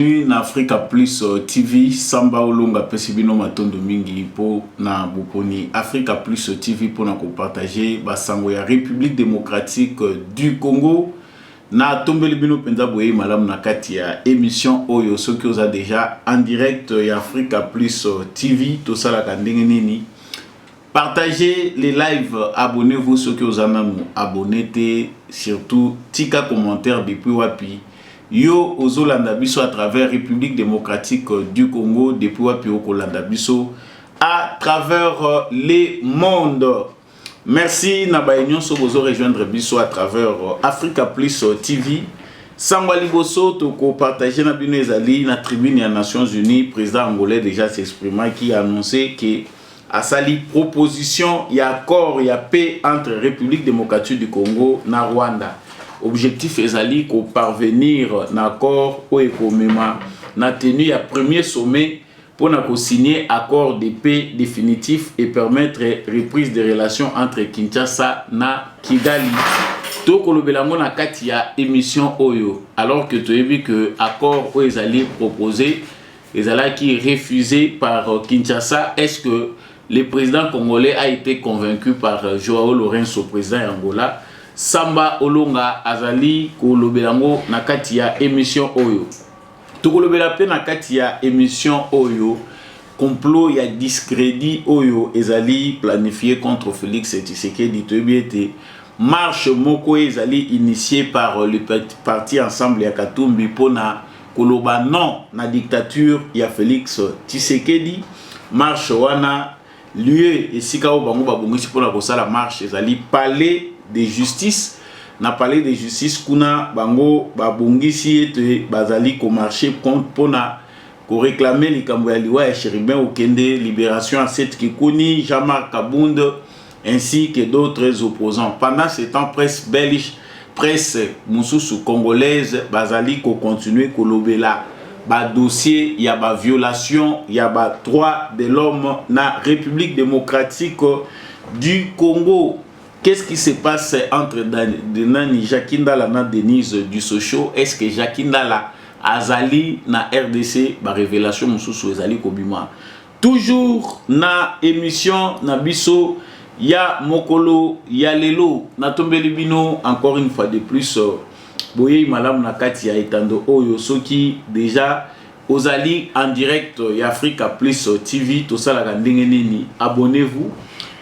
Bienvenue na Africa Plus euh, TV. Samba Olonga pesi bino matondo mingi po na boponi Africa Plus euh, TV po na ko partager ba sango ya République démocratique euh, du Congo. Na tombeli bino penza boye malamu na kati ya émission oyo soki oza déjà en direct ya Africa Plus TV tosalaka ndenge nini? Partagez les lives, abonnez-vous soki oza nanu abonné te, surtout tika commentaire depuis wapi Yo ozo landa biso à travers Republique Democratique du Congo depuis wapi oko landa biso à travers euh, le monde. Merci na baye nyonso bozo rejoindre biso à travers euh, Africa Plus euh, TV. Sango liboso toko partager na bino ezali na tribune ya Nations Unies, président angolais déjà s'exprimaki annoncer que asali proposition ya accord ya paix entre République démocratique du Congo na Rwanda. Objectif ezali ko parvenir na accord oyo ekomema na tenue ya premier sommet mpo na ko signer accord de paix définitif et permettre reprise des relations entre Kinshasa na Kigali. tokolobela yango na kati ya émission oyo alors que toyebi que accord oyo ezali proposé ezalaki refuse par Kinshasa est-ce que le président congolais a été convaincu par Joao Lourenço président ya Angola Samba Olonga azali kolobela yango na kati ya emission oyo tokolobela mpe na kati ya emission oyo complot ya discrédit oyo ezali planifié contre Félix Tshisekedi toyebi ete marche moko ezali initié par le parti ensemble ya Katumbi mpona koloba non na dictature ya Felix Tshisekedi marche wana lieu esika oyo bango babongisi mpona kosala marche ezali palais de justice na palais de justice kuna bango babongisi ete bazali komarche mpona koreklame likambo ya liwa ya cherubin okende liberation ya set kikuni jean marc kabund ainsi que d'autres opposants pendant ce temps presse belge presse mususu congolaise bazali ko continuer kolobela ba dossier ya ba violation ya ba droits de l'homme na Republique democratique du Congo Qu'est-ce qui se passe entre Nani Jackie Ndala na Denise Dusocho Est-ce que Jackie Ndala azali na RDC ba révélation mosusu ezali kobima Toujours na emission na biso ya mokolo ya lelo na tombeli bino encore une fois de plus boyeyi malamu na kati ya etando oyo soki deja ozali en direct ya Africa Plus TV tosalaka ndenge nini abonnez-vous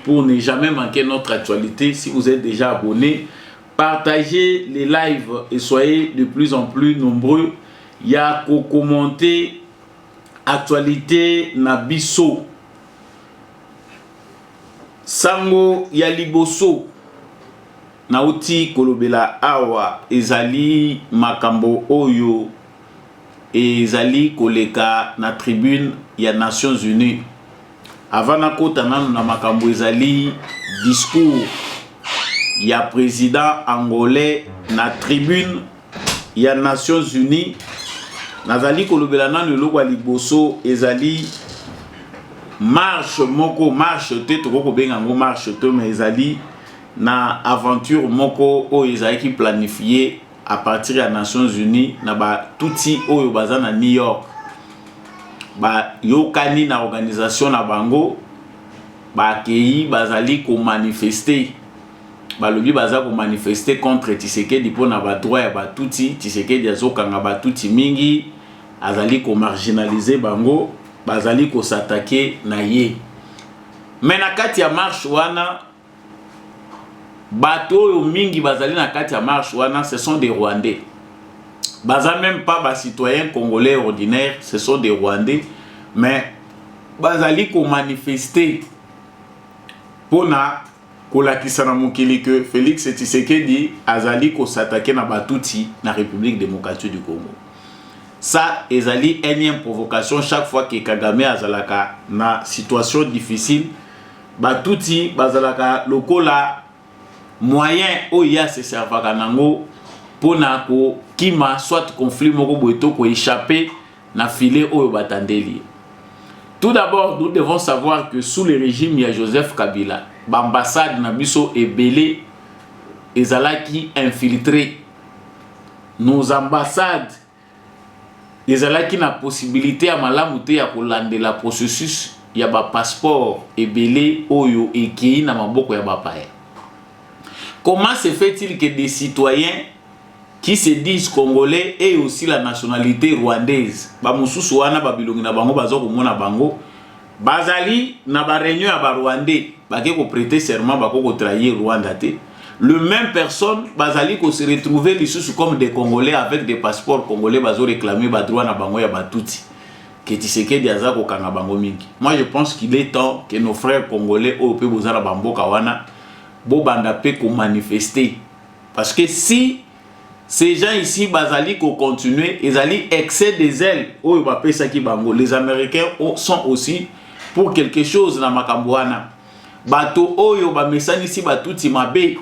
pour ne jamais manquer notre actualité si vous êtes déjà abonné partagez les lives et soyez de plus en plus nombreux ya ko commenter Actualite na biso. Sango ya liboso nauti kolobela awa ezali makambo oyo ezali koleka na tribune ya Nations Unies. Avant nakota nanu na makambo ezali discours ya president angolais na tribune ya Nations Unies nazali kolobela nanu eloko ya liboso ezali marche moko marche te tokoki kobenga yango marche te mais ezali na aventure moko oyo ezalaki planifie à partir ya Nations Unies na batuti oyo baza na New York bayokani na organisation na bango bakei bazali komanifeste balobi baza ko manifester contre Tshisekedi mpo na ba droit ya ba Tutsi Tshisekedi azokanga ba Tutsi mingi azali ko marginaliser bango bazali ko s'attaquer na ye mais na kati ya marche wana bato oyo mingi bazali na kati ya marche wana ce sont des rwandais baza même pas ba citoyens congolais ordinaires ce sont des rwandais mais bazali ko manifester mpo na Kolakisa na mokili que Felix Tshisekedi azali ko s'attaquer na ba Tutsi na Republique Democratique du Congo. Ça ezali enième provocation chaque fois que Kagame azalaka na situation difficile ba Tutsi bazalaka lokola moyen oyo ye se servaka nango pona ko kima soit conflit moko boye to ko echapper na filet oyo batandeli ye. Tout d'abord, nous devons savoir que sous le régime ya Joseph Kabila, b'ambassade na biso ebele ezalaki infiltré. Nos ambassades ezalaki na possibilité ya malamu te ya kolandela processus ya ba passeport ebele oyo ekei na maboko ya bapaya. Comment se fait-il que des citoyens qui se disent congolais et aussi la nationalite rwandaise ba mususu wana ba bilongi na bango baza komona bango bazali na ba reunion ya ba rwandais bake ko prêter serment bako ko trahir Rwanda te le même personne bazali ko se retrouver lisusu comme des congolais avec des passeports congolais bazo réclamer ba droit na bango ya batuti que Tshisekedi aza kokanga bango mingi moi je pense qu'il est temps que nos frères congolais oyo pe boza na ba mboka wana bobanda pe ko manifester Parce que si ces gens ici bazali ko continuer ezali excès des ailes oyo bapesaki bango les américains sont aussi pour quelque chose na makambo wana bato oyo bamesanisi batutsi mabe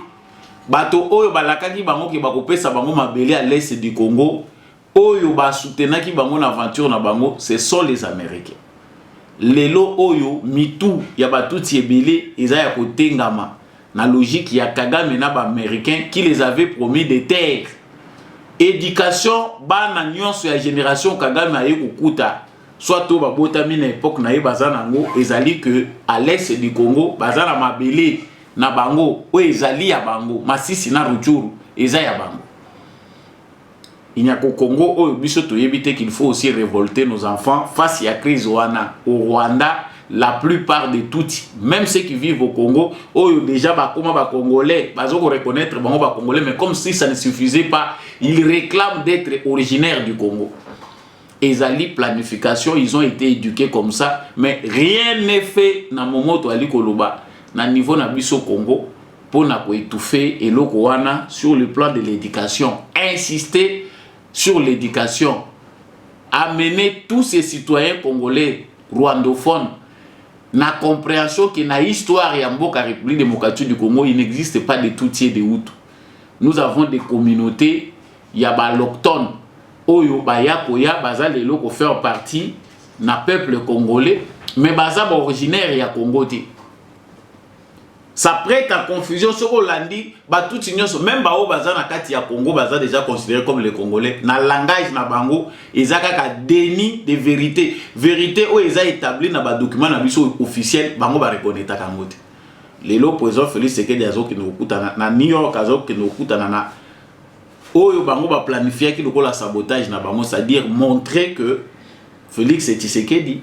bato oyo balakaki bango ke bakopesa bango mabele ya l'est du congo oyo ba soutenaki bango na aventure na bango ce sont les américains lelo oyo mitu ya batutsi ebele eza ya kotengama na logique ya kagame na baaméricain qui les avait promis de terre éducation bana nyonso ya génération kagame aye kokuta soit to babotami na epoque na ye baza nango ezali que à l'est du congo baza na mabele na bango oyo ezali ya bango masisi na ruchuru eza ya bango Il n'y a qu'au Congo oyo biso toyebi te qu'il faut aussi révolter nos enfants face ya crise wana au Rwanda la plupart de Tutsi, même ceux qui vivent au Congo, oyo déjà bakoma ba Congolais, bazo ko reconnaître bango ba Congolais, mais comme si ça ne suffisait pas, ils réclament d'être originaires du Congo. Ezali planification, ils ont été éduqués comme ça, mais rien n'est fait na momoto ali koloba na niveau na biso Congo, mpo na ko etouffer eloko wana sur le plan de l'education insister sur l'éducation, amener tous ces citoyens congolais rwandophones na compréhension que na histoire ya mboka République démocratique du Congo, il n'existe pas de Tutsi et de Hutu. Nous avons des communautés ya baloctones oyo baya koya baza lelo ko faire partie na peuple congolais mais baza ba originaire ya Congo te. Ça prête à confusion soki olandi batutsi nyonso meme baoyo baza na kati ya Congo baza déjà considéré comme les Congolais na langage na bango eza kaka déni de vérité vérité oyo eza établi na badocument na biso officiel bango bareconnaitaka yango te lelo président Félix Tshisekedi azokende kokutana na New York azokende kokutana na oyo bango baplanifiaki lokola sabotage na bango c'est-à-dire montrer que Félix Tshisekedi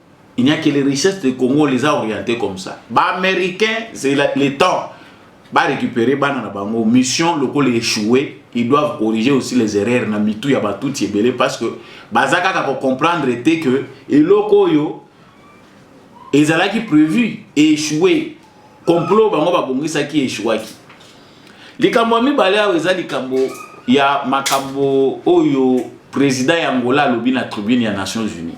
Il n'y a que les richesses de Congo, on les a orientées comme ça. Bah, américains, c'est le temps. Bah, récupérer bana na bango. Mission, le col échoué. Ils doivent corriger aussi les erreurs na mitou ya ba tout belé parce que bazaka ka comprendre était que eloko yo ezalaki prévu et échoué. Complot bango ba bongisa ki échouaki. Likambo ya mibale awa eza likambo ya makambo oyo président ya Angola alobi na tribune ya Nations Unies.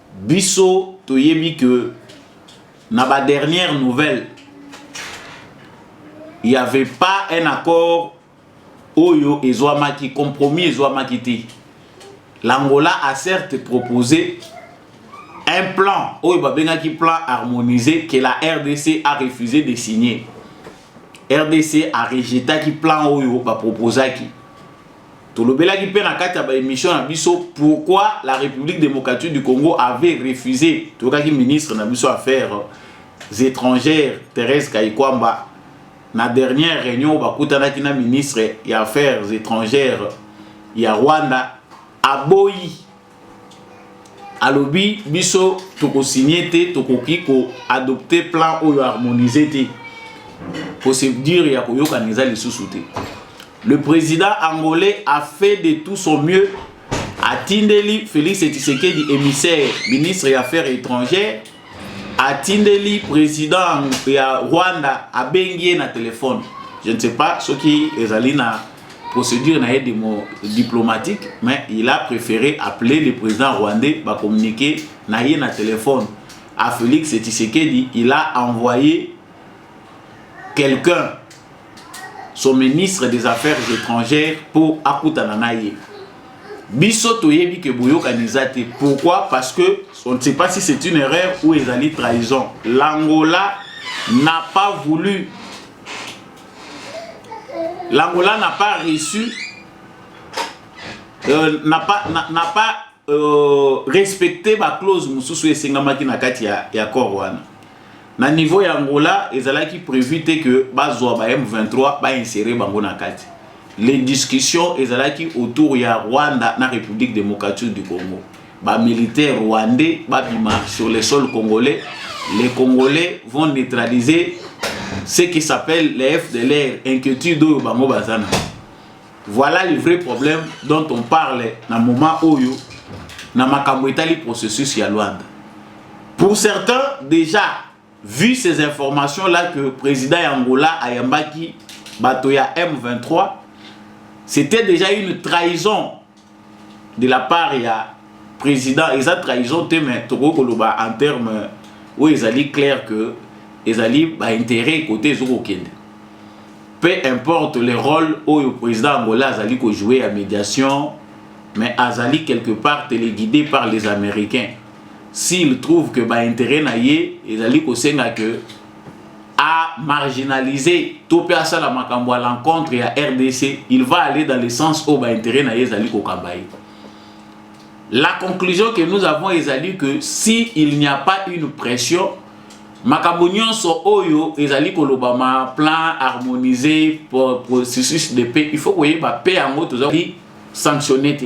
Biso toyebi que na ba dernière nouvelle il y avait pas un accord oyo ezwamaki compromis ezwamaki te l'angola a certes proposé un plan oyo babengaki plan harmonisé que la rdc a refusé de signer rdc a rejetaki plan oyo baproposaki Tolobelaki mpe na kati ya ba emission na biso pourquoi la République démocratique du Congo avait refusé. Toyokaki ministre na biso affaires étrangères Thérèse Kayikwamba na dernière réunion bakutanaki na ministre ya affaires étrangères ya Rwanda aboyi alobi biso tokosigne te tokoki koadopte plan oyo harmonise te procédure ya koyokana eza lisusu te le président angolais a fait de tout son mieux atindeli félix tshisekedi émissaire ministre ya affaires étrangères atindeli président ya rwanda abengi ye na telefone je ne sais pas soki ezali na procédure na ye diplomatique mais il a préféré appeler le président rwandais ba communiquer na ye na téléphone à Félix Tshisekedi il a envoyé quelqu'un son ministre des affaires étrangères pour akutana na ye biso toyebi ke boyokani eza te pourquoi parce que on ne sait pas si c'est une erreur ou ezali trahison l'angola n'a pas voulu L'Angola n'a pas reçu, euh, n'a pas, n'a pas euh, respecté ba clause mususu esengamaki na kati ya, ya corps wana. Na niveau ya Angola, ezalaki prévu te que bazwa ba M23 ba insérer bango na kati. Les discussions ezalaki autour ya Rwanda na République démocratique du Congo. ba militaires rwandais babima sur le sol congolais les congolais vont neutraliser ce qui s'appelle les FDLR inquiétude oyo bango baza na voilà le vrai problème dont on parle na moment oyo na makambo etali processus ya Luanda pour certains déjà vu ces informations là que président ya Angola ayambaki bato ya M23 c'était déjà une trahison de la part ya président eza trahison te mais tokoki koloba en terme oyo ezali clair que ezali baintérêt kote ezo kokende peu importe le rôle oyo président angola azali kojoue ya médiation mais azali quelque part téléguidé par les américains s'il trouve que baintérêt na ye ezali kosenga que a marginaliser to mpe asala makambo à l'encontre ya rdc il va aller dans le sens oyo baintérêt na ye ezali kokamba ye la conclusion que nous avons ezali que si il n'y a pas une pression makambo nyonso oyo ezali kolobama plan harmonisé processus de paix il faut koyeba mpe yango tozali sanctionne te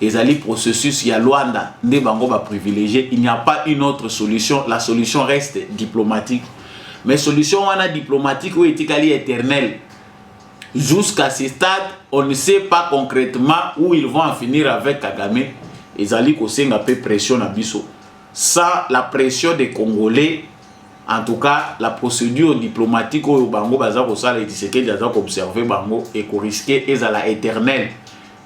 Ezali processus ya Luanda nde bango ba privilegier, il n'y a pas une autre solution, la solution reste diplomatique. Mais solution wana diplomatique oyo etikali éternel jusqu'à ce stade on ne sait pas concrètement où ils vont en finir avec Kagame ezali kosenga mpe pression na biso sans la pression des congolais en tout cas la procédure diplomatique oyo bango baza kosala etisekedi aza koobserve bango ekoriske ezala éternel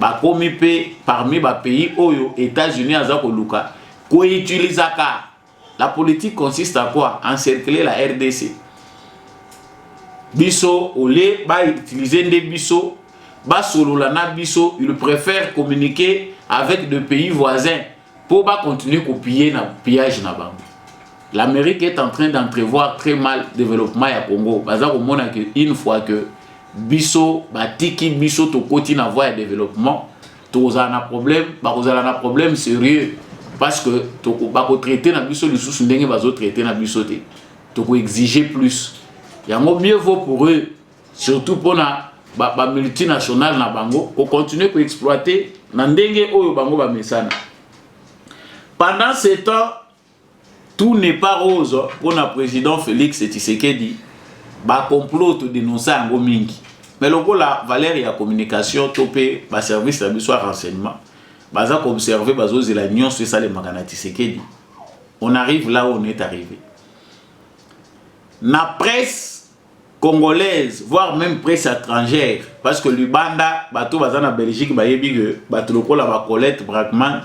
Bakomi mpe parmi ba pays oyo Etats-Unis aza koluka ko utilisaka la politique consiste à quoi? Encercler la RDC. Biso au lieu ba utiliser nde biso basolola na biso, ils preferent communiquer avec de pays voisins Pour ba continuer ko piller na pillage na bango. L'Amérique est en train d'entrevoir très mal développement ya Congo. Baza ko mona que une fois que biso batiki biso tokoti na voie ya développement tokozala na problème bakozala na problème sérieux parce que bakotraite na biso lisusu ndenge bazotraite na biso te tokoexige plus yango mieux vaut pour eux surtout mpo na bamultinationale ba na bango kocontinue koexploite na ndenge oyo bango bamesana pendant ce temps tout n'est pas rose mpo na président félix tshisekedi bacomplot todenonsa yango mingi mais lokola valeur ya communication to mpe baservice na biso ya renseignement baza koobserve bazozela nyonso esalemaka na tshisekedi on arrive là on est arrivé na presse congolaise voir meme presse etrangère parce que libanda bato baza na belgique bayebi que bato lokola ba colette bragman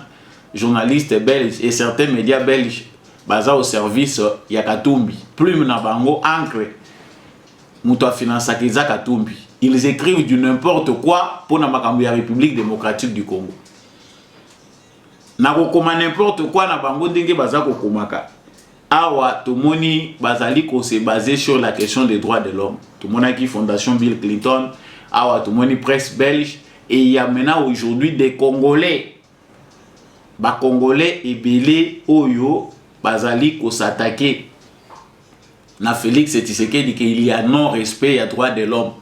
journaliste belge et certains médias belge baza au service ya katumbi plume na bango ancre moto afinansaka eza katumbi ils écrivent du n'importe quoi mpo na makambo ya république démocratique du congo na kokoma n'importe quoi na bango ndenge baza kokomaka awa tomoni bazali kose base sur la question des droits de l'homme tomonaki fondation bill clinton awa tomoni presse belge et il y a maintenant aujourd'hui des congolais bacongolais ebele oyo bazali kosatake na félix tshisekedi ke il y a non respect ya droit de l'homme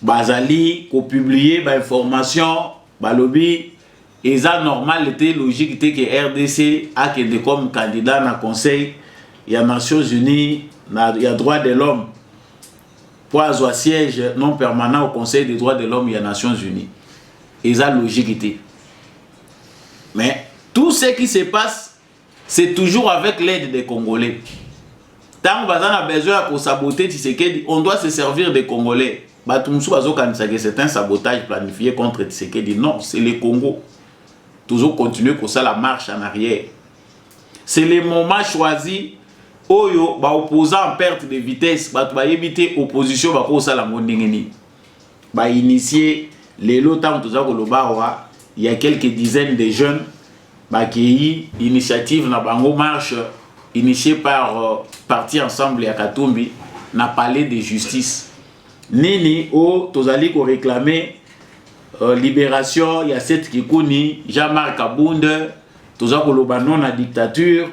bazali ko publier ba information balobi eza normal te logique te que rdc akende comme candidat na conseil ya nations unies na ya droit de l'homme mpo azwa siège non permanent au conseil des droits de l'homme ya nations unies eza logique te mais tout ce qui se passe C'est toujours avec l'aide des Congolais. Tant que a besoin de saboter Tshisekedi, on doit se servir des Congolais. Batumsu bazokanisa que c'est un sabotage planifié contre Tshisekedi. Non, c'est le Congo. Toujours continuer comme ça la marche en arrière. C'est le moment choisi oyo ba opposants en perte de vitesse bato bayebi te opposition bakosala yango ndenge nini bainitie lelo ntango toza koloba awa ya quelques dizaines de jeunes Bakeyi initiative na bango marche initier par parti ensemble ya Katumbi na palais de justice. Nini o tozali ko reclamer euh, liberation ya Seth Kikuni, Jean-Marc Kabund, toza koloba non na dictature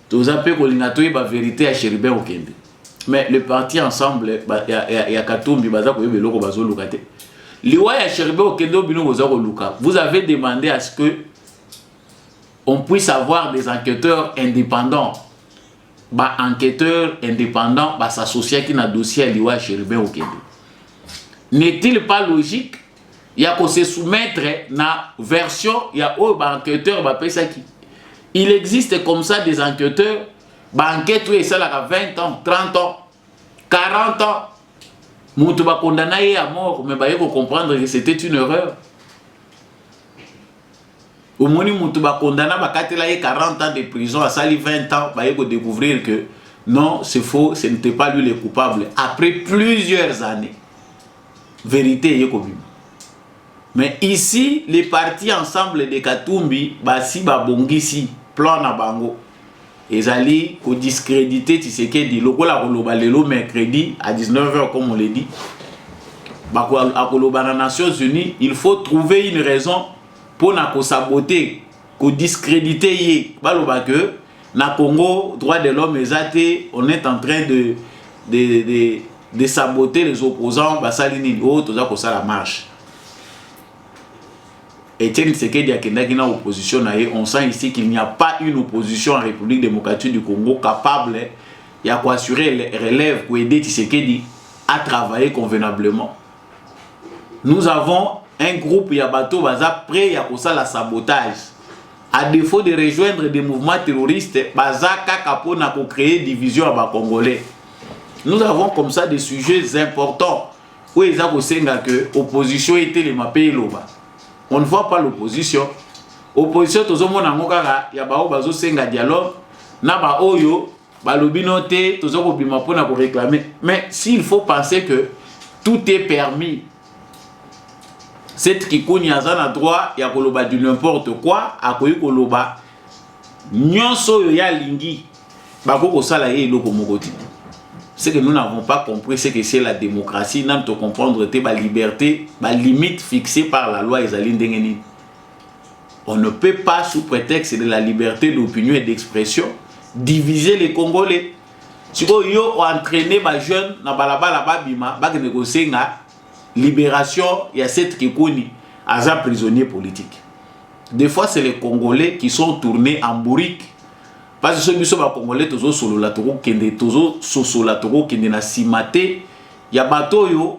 toza pe kolinga toyeba verite ya cherubin okende mais le parti ensemble ba, ya, ya, ya katumbi baza koyeba eloko bazoluka te liwa ya cherubin okende o bino boza koluka vous avez demandé à ce que on puisse avoir des enquêteurs indépendants ba enquêteurs indépendants basasociaki na dossier ya liwa ya cherubin okende n'est-il pas logique ya ko se soumettre na version ya oyo ba enquêteurs bapesaki il existe comme ça des enquêteurs ba enquête oyo esalaka 20 ans 30 ans 40 ans moto bakondana ye ya mort mais baye kocomprendre que c'était une erreur omoni moto bakondana bakatela ye 40 ans de prison asali 20 ans baye kodécouvrir que non c'est faux ce n'était pas lui le coupable après plusieurs années verite eye kobima mais ici les partis ensemble de katumbi basi babongisi plan na bango ezali kodiscredite tshisekedi lokola akoloba lelo mercredi à 19 heures comme on le dit akoloba na nations unies il faut trouver une raison mpo na kosabote ko discrediter ye baloba que na Congo droit de l'homme eza te on est en train de de de de saboter les opposants basali nini oyo oh, toza kosala marche Etienne Tshisekedi akendaki na opposition na ye on sent ici qu'il n'y a pas une opposition en République démocratique du Congo capable ya koassurer relève koaider Tshisekedi à travailler convenablement nous avons un groupe ya bato baza prêt ya kosala sabotage à défaut de rejoindre des mouvements terroristes baza kaka mpo na kocréer division ya bacongolais nous avons comme ça des sujets importants oyo eza kosenga ke opposition etelema mpe eloba on ne voit pas l'opposition opposition tozomona yango kaka ya baoyo bazosenga dialogue na baoyo balobi no te toza kobima mpona koreclame mais s'il faut penser que tout est permis cette kikuni aza na droit ya koloba du n'importe quoi akoki koloba nyonso oyo ye alingi bakoki kosala ye eloko moko te ce que nous n'avons pas compris ce que c'est la démocratie nanu tocomprendre te baliberte balimite fixée par la loi ezali ndenge nini On ne peut pas, sous prétexte de la liberté d'opinion et d'expression, diviser les Congolais. sikoyo yo oentraîne bajeune na balabala babima bakende kosenga libération ya set kikuni aza prisonnier politique des fois c'est les congolais qui sont tournés en bourrique parce que soki biso bacongolais tozosolola tokokende tozososola tokokende na nsima te ya bato oyo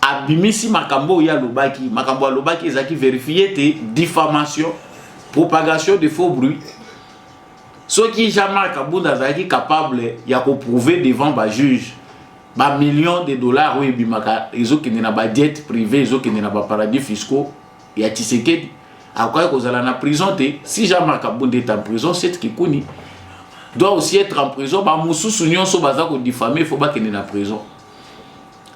abimisi makambo oyo alobaki makambo alobaki ezalaki verifie te diffamation propagation de faux bruit soki jean-marc abunda azalaki capable ya koprouve devant bajuge bamillion de dollars oyo ebimaka ezokende na badiete privé ezokende na baparadis fiscaux ya tisekedi akokaki kozala na prison te si jean-marc abunda est en prison set kikuni doit aussi être en prison bamosusu nyonso baza kodifame fo bakende na prison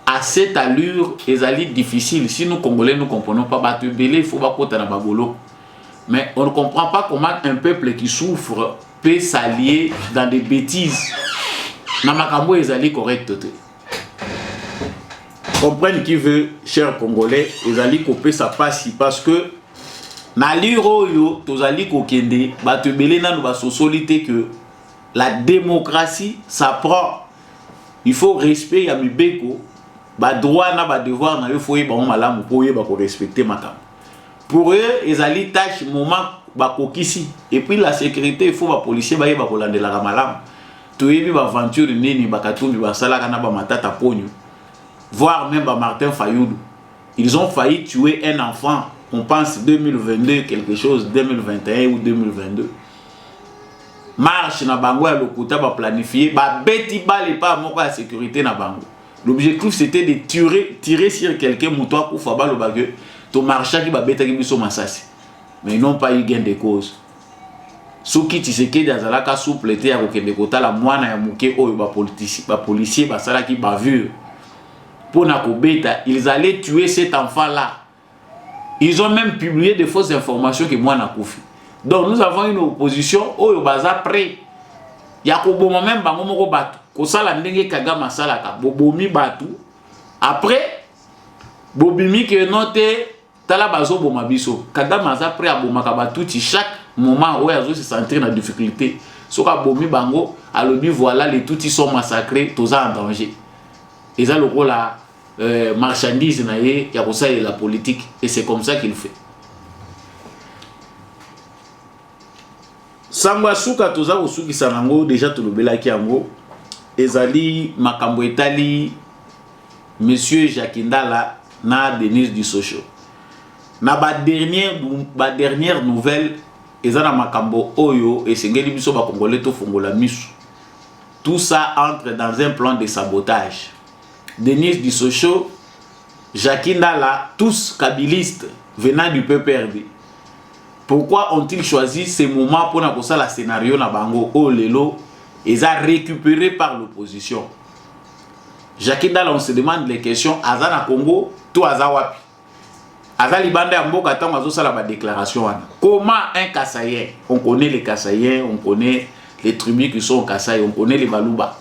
à cette allure ezali difficile si nous congolais nous comprenons pas bato ebele il faut bakota na babolo mais on ne comprend pas comment un peuple qui souffre peut s'allier dans des bêtises na makambo ezali correcte te comprenne qui veut cher congolais ezali kopesa mpasi parce que na allure oyo tozali kokende bato ebele nano basosoli te que la démocratie ça prend il faut respect ya mibeko ba droit na ba devoir na yo faut yeba malamu po yeba ko respecter makambo pour eux ezali tâche moment bakokisi et puis la sécurité il faut ba policier bayeba kolandelaka malamu toyebi ba aventure nini bakatumbi basalaka na ba matata ponyo voire même ba martin fayulu ils ont failli tuer un enfant on pense 2022 quelque chose 2021 ou 2022 marche na bango ya lokuta ba planifier ba beti bale pa moko ya sécurité na bango l'objectif c'était de tirer tirer sur quelqu'un moto akufa baloba que to marchaki ba betaki biso masasi mais non pas eu gain de cause soki tshisekedi azalaka souple te ya kokende kotala mwana ya moke oyo bapolisier basalaki bavure mpo na kobeta ils allaient tuer cet enfant là Ils ont même publié des fausses informations que moi nakufi. Donc nous avons une opposition oyo baza prêt ya koboma même bango moko bato kosala ndenge Kagame asalaka bobomi bato après bobimi ke no te tala bazoboma biso Kagame aza prêt abomaka batuti chaque moment oyo azo se sentir na difficulté soki abomi bango alobi voilà les tutsi sont massacrés toza en danger eza lokola euh, marchandise na ye ya kosalela politique et c'est comme ça qu'il fait sango ya suka toza kosukisa nango deja tolobelaki yango ezali makambo etali monsieur jacques ndala na denise dusosho na badernière ba dernière nouvelle eza na makambo oyo esengeli biso bakongole tofongola misu tout ça entre dans un plan de sabotage Denise Dissocho, Jackie Ndala, tous kabilistes venant du PPRD. Pourquoi ont-ils choisi ce moment pour na kosala scenario na bango oyo oh, lelo eza récupéré par l'opposition? Jackie Ndala, on se demande les questions, aza na Congo to aza wapi? Aza libanda ya mboka tango azosala ba déclaration wana. Comment un Kasaïen, on connaît les Kasaïens, on connaît les tribus qui sont au Kasaï, on connaît les Baluba.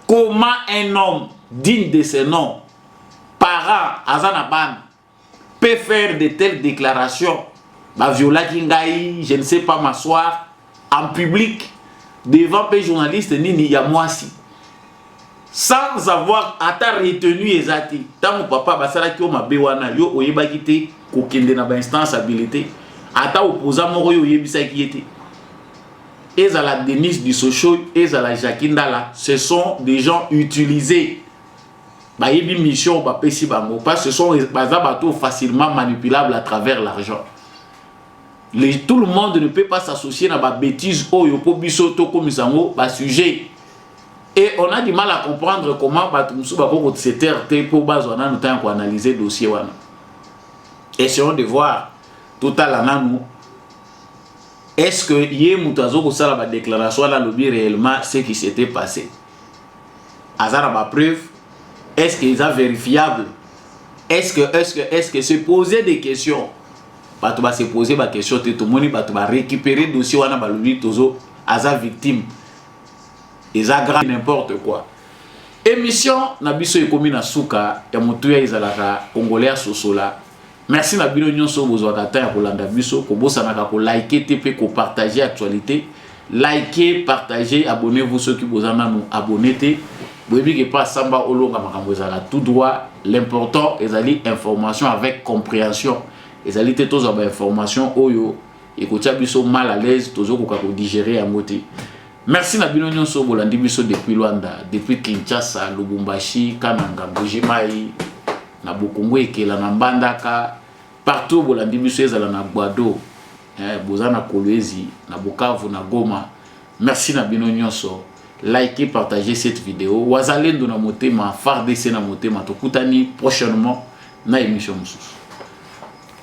comment un homme digne de ce nom parent aza na bana peut faire de telles déclarations baviolaki ngai je ne sais pas m'asseoir en public devant mpe journaliste nini ya mwasi sans avoir ata retenu eza te ntango papa basalaki yo mabe wana yo oyebaki te kokende na bainstance habilité ata opoza moko yo oyebisaki ye te ezala Denise Dissosho ezala Jackie Ndala ce sont des gens utilisés bayebi mission bapesi bango parce que ce sont baza bato facilement manipulable à travers l'argent les, tout le monde ne peut pas s'associer na babétise oyo mpo biso tokomisa yango basujet et on a du mal à comprendre comment bato mosusu bakoki kosetere te mpo bazwa nanu ntango ya koanalyse dossier wana essayons de voir totala nanu est ce que ye moto azokosala badéclaration wana alobi réellement ce qui s'était passé aza na bapreuve est ce que eza vérifiable est ce que est ce que est ce que se poser des questions bato base poser baquestion te tomoni bato barécupérer dossier wana balobi tozo aza victime eza grand n'importe quoi émission na biso ekomi na suka ya motuya ezalaka congolais asosola Merci na bino nyonso oyo bozwaka temps ya kolanda biso, kobosanaka ko liker te mpe ko partager actualité. Likez, partagez, abonnez-vous soki boza nanu abonne te. Boyebi ke pa samba olonga makambo ezala tout droit. L'important ezali information avec comprehension. Ezali te tozwa ba information oyo ekotia biso mal à l'aise, tozokoka ko digérer yango te. Merci na bino nyonso bolandi biso depuis Luanda, depuis Kinshasa, Lubumbashi, Kananga, Mbuji-Mayi, na bokongo ekela na mbandaka partout bolandi biso ezala na gbado eh, boza na kolwezi na bukavu na goma merci na bino nyonso like partage cette video wazalendo na motema fardc na motema tokutani prochainement na émission mosusu